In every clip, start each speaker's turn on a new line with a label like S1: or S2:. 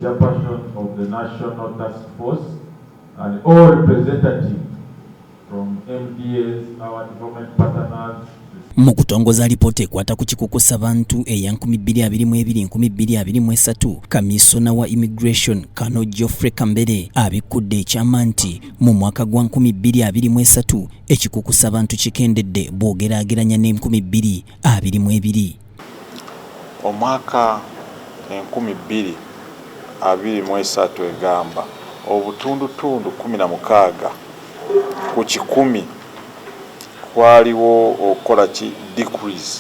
S1: Chairperson of the National Task Force and all representatives from MDAs, our development partners, mu kutongoza
S2: alipoota ekwata ku kikukusa bantu eya 2223 kamisona wa immigration kano geoffrey kambere abikkudde ekyama nti mu mwaka gwa 2223 ekikukusa bantu kikendedde bw'ogeraageranya ne 2222 Omwaka
S3: enkumi bbiri abiri mu esatu egamba obutundutundu kkumi na mukaaga ku kikumi kwaliwo okukola ki decrease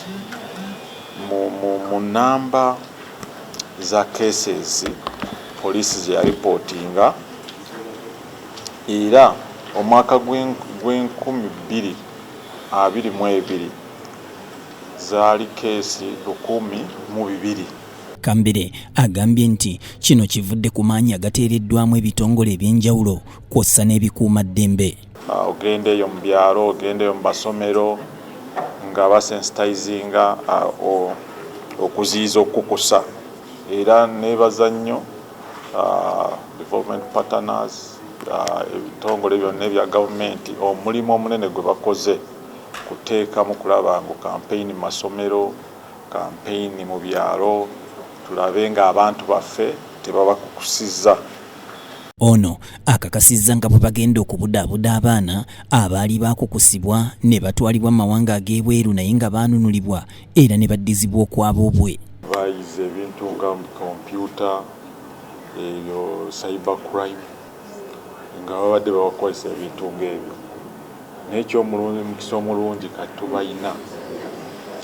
S3: mu mu mu nnamba za cases police ze yalipotinga era omwaka gw'enkumi bbiri abiri mu ebiri, zaali kkeesi lukumi mu bibiri. Kambere
S2: agambye nti kino kivudde ku maanyi agateereddwamu ebitongole eby'enjawulo kwossa n'ebikuuma ddembe. Ah, ogenda eyo
S3: mu byalo, ogenda eyo mu basomero nga basensitizinga ah, okuziyiza okukusa era nebaza nnyo ah, development partners ebitongole byonna ebya gavumenti omulimu omunene gwe bakoze. kuteekamu kulaba ngu kampeyini mu masomero, kampeyini mu byalo tulabe ng'abantu baffe tebabakukusizza.
S2: Ono akakasizza nga bwebagenda okubudaabuda abaana abaali baakukusibwa nebatwalibwa mu mawanga ag'ebweru naye nga baanunulibwa era nebaddizibwa okwaboobwe. Bayize ebintu
S3: nga kompyuta, ebyo cyber crime. nga babadde babakozesa ebintu ng'ebyo naye eky'omulungi mukisa omulungi kati tubalina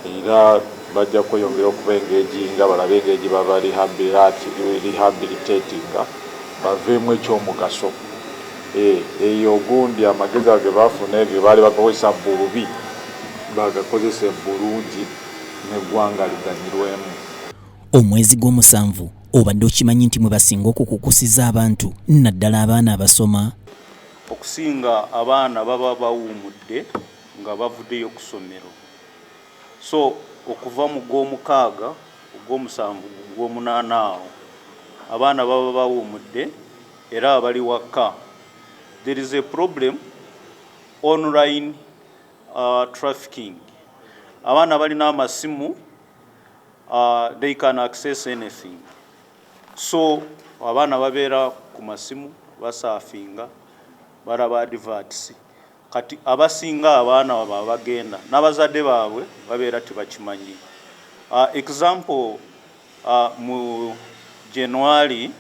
S3: era bajja kweyongera okuba engegi nga balabe engeri baba rehabilitatinga baveemu eky'omugaso eh, eyo ogundi amagezi ago gebafuna ebyo baali bagakozesa bubi bagakozese bulungi n'eggwanga liganyirwemu. Omwezi
S2: gw'omusanvu obadde okimanyi nti mwe basinga okukukusiza abantu naddala abaana abasoma okusinga
S4: abaana baba bawumudde nga bavudeyo kusomero so okuva mu gwomukaaga ogwomusanvu gwomunaana awo abaana baba bawumudde era abali wakka there is a problem online uh, trafficking abaana balina amasimu uh, they can access anything so abaana babeera ku masimu basafinga balaba adverts kati abasinga abaana wabo abagenda n'abazadde baabwe babeera tebakimanyi uh, example uh, mu january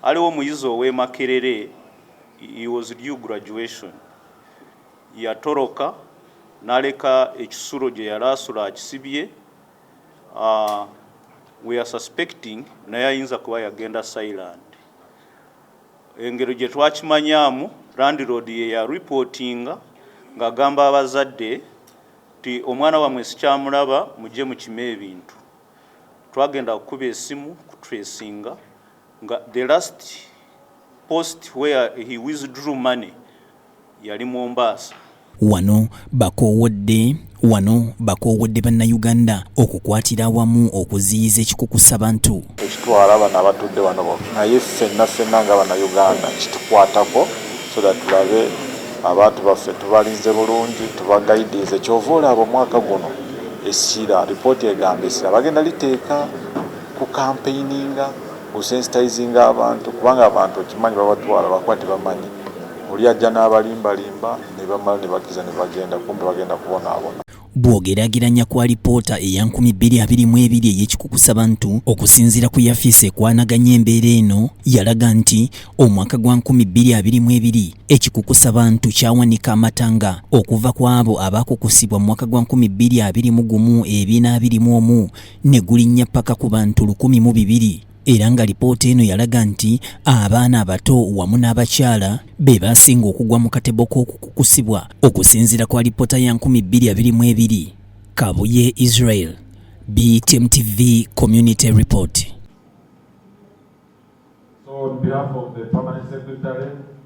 S4: aliwo omuyizi ow'emakerere he was due graduation yatoroka naleka ekisulo gye yali asula akisibye Uh, we are suspecting naye ayinza kuba yagenda silent engero gye twakimanyaamu landlord ye ya reportinga ng'agamba abazadde nti omwana wamwe sikyamulaba mujje mukime ebintu twagenda kukuba esimu kutresinga nga the last post where he withdrew money yali Mombasa. Wano
S2: bakoowodde Wano bakoowodde Bannayuganda okukwatira awamu okuziyiza ekikukusa bantu. Tekitwala bano
S3: abatudde wano bokka naye ffenna ffenna nga Bannayuganda kitukwatako so that tulabe abantu baffe tubalinze bulungi, tubagaidinze. Ky'ova olaba omwaka guno essira, lipooti egamba essira bagenda liteeka ku kampeininga. ku sensitizinga abantu kubanga abantu okimanyi babatwala bakuba tebamanyi oli ajja n'abalimba limba nebamala nebakiriza nebagenda kumbe bagenda kubonaabona. Bw'ogerageranya
S2: ku alipoota eya nkumi bbiri abiri mu ebiri ey'ekikukusa bantu okusinziira ku yafiisi ekwanaganya embeera eno yalaga nti omwaka gwa nkumi bbiri abiri mu ebiri ekikukusa bantu kyawanika amatanga okuva ku abo abaakukusibwa mu mwaka gwa nkumi bbiri abiri mu gumu ebina abiri mu omu ne gulinnya paka ku bantu lukumi mu bibiri era nga lipoota eno yalaga nti abaana abato wamu n'abakyala be baasinga okugwa mu katebo k'okukukusibwa okusinziira kwa lipoota ya 2222 kabuye israel btm tv community report
S1: so